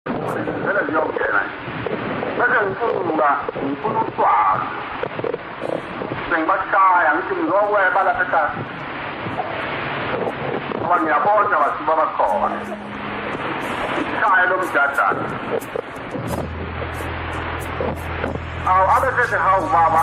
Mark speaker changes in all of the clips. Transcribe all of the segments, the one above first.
Speaker 1: Vele ziyongena. Bese ngifuna ngifuna uswazi. Sengibashaya ngithi ngizokweba lapha ekhaya. Ngoba ngiyabona bathi baba khona. Ikhaya lomjadana. Awu abe sethi hawu baba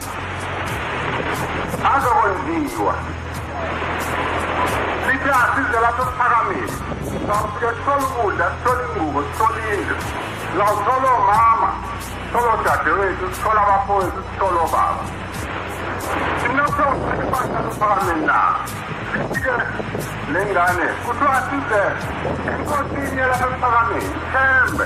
Speaker 1: azokwenziwa sithi asize lapho kuphakamile sawufike sithole ukudla sithole ingubo sithole indlu sawuthole omama sithole odadewethu sithole abafowethu sithole obaba sinokho siphatha luphakamile na sifike nengane kuthiwa size enkosini yelapha emphakamithi thembe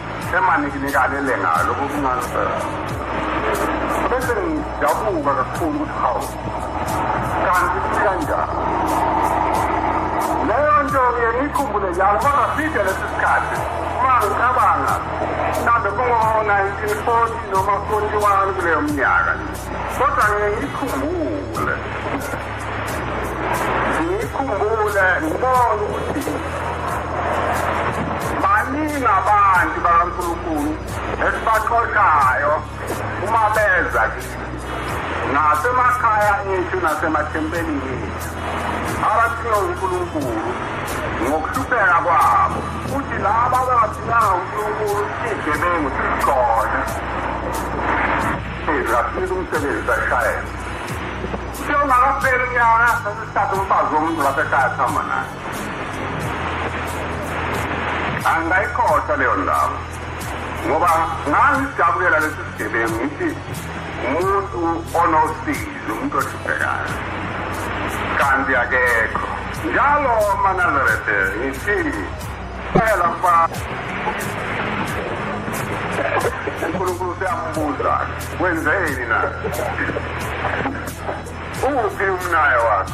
Speaker 1: emanginikane ngalo kokungansela bese ngidabuka kakhulu ukuthi hawu kanti sikanjani leyo nto ngiye ngiyikhumbule njalo kodwa side lesi sikhathi uma ngicabanga mhlawumbe kungo-1940 noma 41 kuleyo mnyaka kodwa ngiye ngiyikhumbule ngiyikhumbula ngibona ukuthi baningi abantu bakankulunkulu esibaxoshayo uma beza kithi nasemakhaya ethu nasemathempelini ethu abathiwa unkulunkulu ngokuhlupheka kwabo futhi laba ababathinanga unkulunkulu sigebengu sikhona sizafika umsebenzi sashayela angayikhohlwa leyo ndawo ngoba ngangijabulela lesi sigebengu ngithi umuntu onosizi umuntu ohluphekayo kanti akekho njalo manazarete ngithi Phela mfana. uNkulunkulu siyambuza wenzeni na uphi umnaya wakhe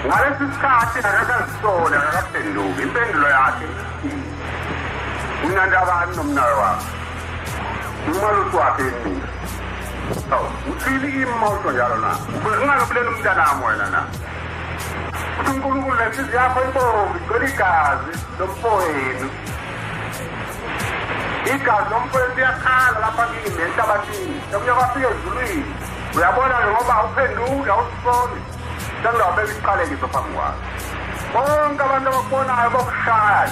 Speaker 1: ngalesi sikhathi akakazisoli akakaphenduki impendulo yakhe unandabani nomnaya wakhe umalusi wakhe yini uthini imoto njalo na ungalobuleli umntanami wena na uNkulunkulu nenhliziyo yakho ibomvu igcwele igazi lomfowenu igazi lomfowenu liyakhala lapha kimi enhlabathini omunye kwafika ezulwini uyabona ke ngoba uphenduke awusiboni sengizawubeka isiqalekiso phambi kwakho bonke abantu abakubonayo bokushaya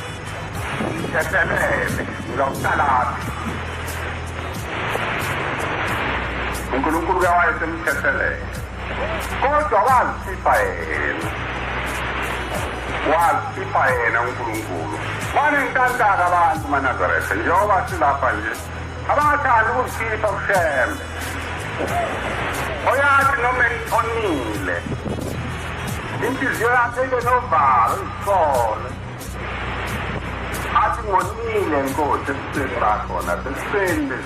Speaker 1: Ngithetelele, ngizawuqalaphi? uNkulunkulu uyawayesemthethelela kodwa wazikhipha yena wazikhipha yena uNkulunkulu banentantaka abantu maNazaretha njengoba silapha nje abathanda ukuzikhipha kushembe oyathi noma onile inhliziyo yakhe ibe novalo izisole asingonile nkosi ekuseni bakhona sekuseni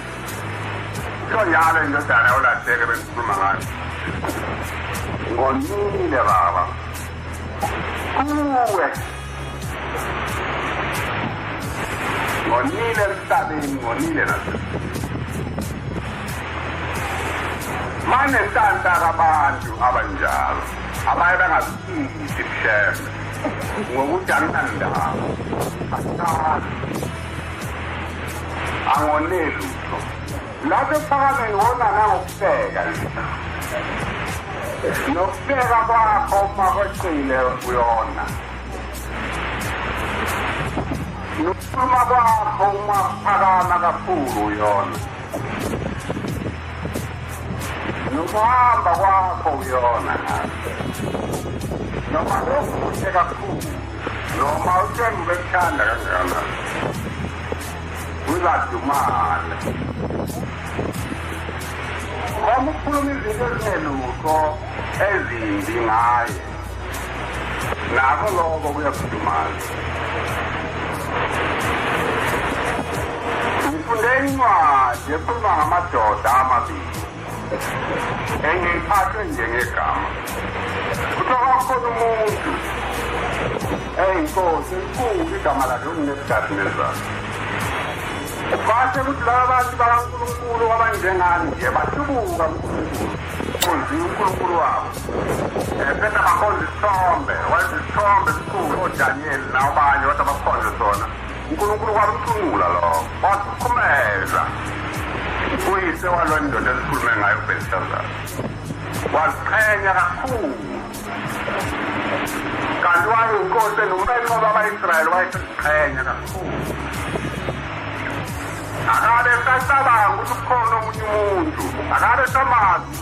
Speaker 1: soyala indodana ulahleke bengikhuluma ngayo ngonile baba kuwe ngonile emhlabeni ngonile manentanta kabantu abanjalo abaye bengazi angonelutho lapho ekuphakame ngona nangokuhleka nokuhleka kwakho uma kweqile kuyona nokukhuluma kwakho uma kuphakama kakhulu yona nokuhamba kwakho uyona noma lokuhle kakhulu noma uthenga ubekuthanda kanjalo uzadumala uma ukhuluma izinto ezingelutho ezimbi ngaye nako loko kuyakhudumala ngifunde incwadi ekhuluma ngamadoda amabili engiphathwe njengegama kuthiwa kwakhona umuntu eyi nkosi elikhulu igama lakhe unginebudadi nezalo bashe ukuthi laba bantu bakankulunkulu abanjengani nje bahlubuka kunkulunkulu kunzima unkulunkulu wabo Sena bakhonza isithombe, wenza isithombe esikhulu oDaniel nabanye wathi abakhonze sona. uNkulunkulu kwamcungula lo, wasikhumeza. Uyise walo ndoda esikhulume ngayo uBelshazzar. Waziqhenya kakhulu. Kanti wayinkosi nomenqo baba-Israyeli wayeseziqhenya kakhulu. Akabe esacabanga ukuthi kukhona omunye umuntu, akabe esamazi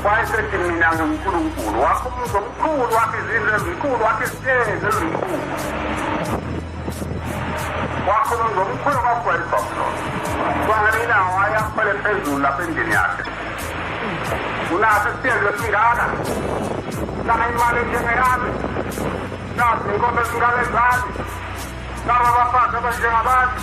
Speaker 1: wayesethi mina ngiwunkulunkulu wakho umuzi omkhulu wakho izindlu ezinkulu wakho isitezi ezinkulu wakho umuzi omkhulu kwagwayibhabulona kwangale ilanga wayakhwele phezulu lapha endlini yakhe unaso isitezi esingaka naha imali njengeyami naso inkomo ezingaka ezami naba bafazi abanjengabantu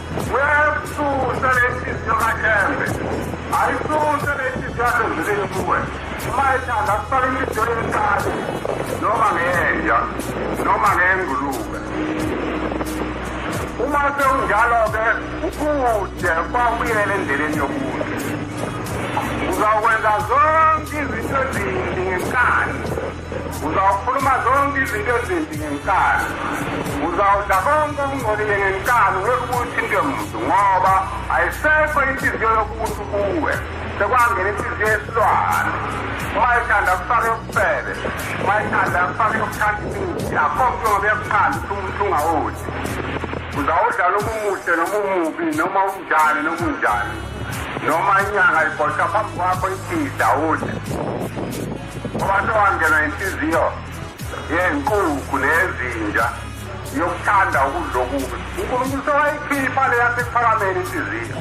Speaker 1: Uyayisusa lenhliziyo kaThembe. Ayisuse lenhliziyo yakhe ngizile kuwe. Uma ethanda kusala inhliziyo yenkani noma ngenja noma ngengulube. Uma sewunjalo-ke ukude kwakuyele endleleni yokude. Uzakwenza zonke izinto ezimbi ngenkani. Uzawukhuluma zonke izinto ezimbi ngenkani. Uzawudla konke okungcolile ngenkani ngekuthi into yomuntu ngoba ayisekho inhliziyo yokumuntu kuwe. Sekwangena inhliziyo yesilwane. Uma ethanda kufake ubufebe. Uma ethanda kufake ukuthanda imithi. Akho mntu ngoba yakuqala ukuthi umuntu ungawudli. Uzawudlala umuhle noma umubi noma unjani noma unjani. Noma inyanga ibhosha phambi kwakho iphidla udle. Abantu bangena inhliziyo yenkukhu nezinja yokuthanda ukudla okubi unkulunkulu sewayikhipha le yasekuphakameni inhliziyo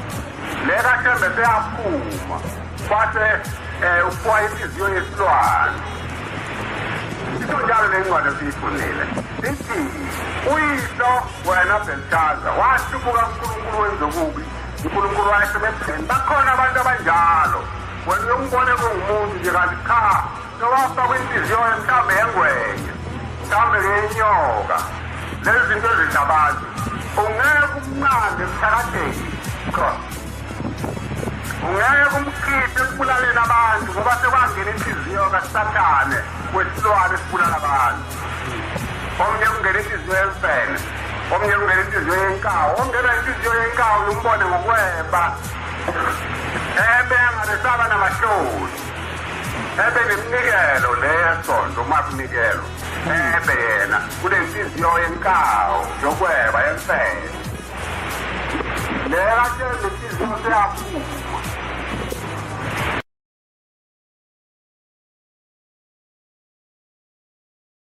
Speaker 1: le kathembe seyaphuma kwase um ukuwa inhliziyo yesilwane iso njalo le ncwadi esiyifundile ithi uyihlo wena belshaza wahlubuka unkulunkulu wenzokubi unkulunkulu wayesemepheni bakhona abantu abanjalo Wena uyombona kungumuntu nje kanti cha nowafakwa inhliziyo mhlawumbe yengwenya mhlawumbe ngenyoka lezi zinto ezidla abantu ungeke umnqande emthakatheni ungeke umkhiphe ekubulaleni abantu ngoba sekwangena inhliziyo kasathane wesilwane esibulala abantu omnye kungena inhliziyo yemfene omnye kungena inhliziyo yenkawu ongena inhliziyo yenkawu lumbone ngokweba ebengabesaba namahloni ebe neminikelo leyesonto uma kunikelo ebe yena kunenhliziyo yenkawu yokweba yemfene leyo atshela inhliziyo seyaphuma